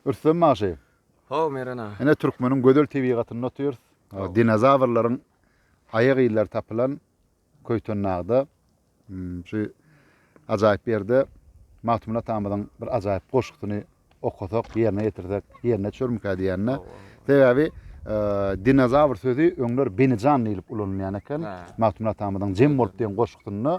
Rüstem bagşy. How Meren aga. Ine türkmeniň gözel tebigatynda otyrys. Dinozawrlaryň aýak yzlary tapylan Köýtendagda hmm, şu ajaýyp ýerde Magtymguly atamyzyň bir ajaýyp goşgusyny okasak, ýerine ýetirsek, ýerine düşermikä diýende. Sebäbi e, dinozawr sözi öňler benijan diýlip ulanylýan eken. Magtymguly atamyzyň Jem bolup diýen goşgusynda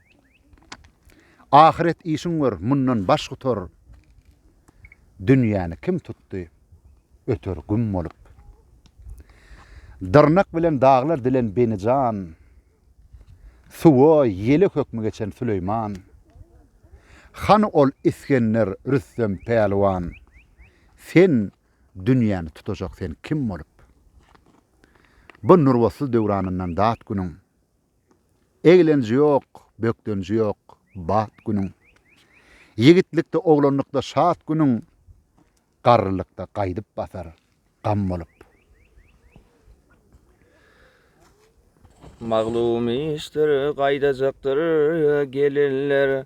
Ahyret işiň gör, mundan baş gutar. Dünýäni kim tutdy, öter güm bolup. Dyrnak bilen daglar dilen beni jan, Suwa, ýele hökmi geçen Süleýman. Hany ol Isgender, Rüstem, Pälwan, Sen, dünýäni tutajak sen kim bolup? Bu nurbatly döwranyndan dat günüň. Eglenji ýok, bökdenji ýok, bat günüň. Ýigitlikde, oglanlykda şat günüň, Garrylykda gaýdyp basar, gam bolup. Maglum işdir, gaýdajakdyr gelinler,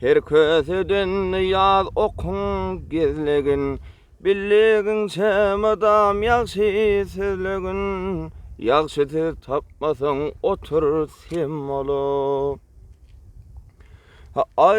Her köseden ýaz okuň gizligin, Bildigiňçe mydam ýagşy sözlegin. Ýagşy söz tapmasaň otur sem bolup. Aý!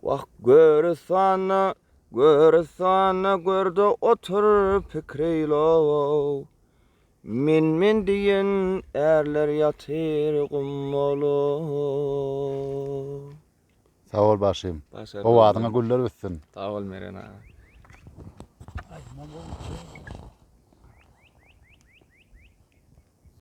Wah, görüsana, görüsana, gör-de otur, pikreýil-ow. Men-men diýen ärler ýatyr gum bolup. Sag bol bagşym. Owazyňa güller bitsin. Sag bol Meren aga.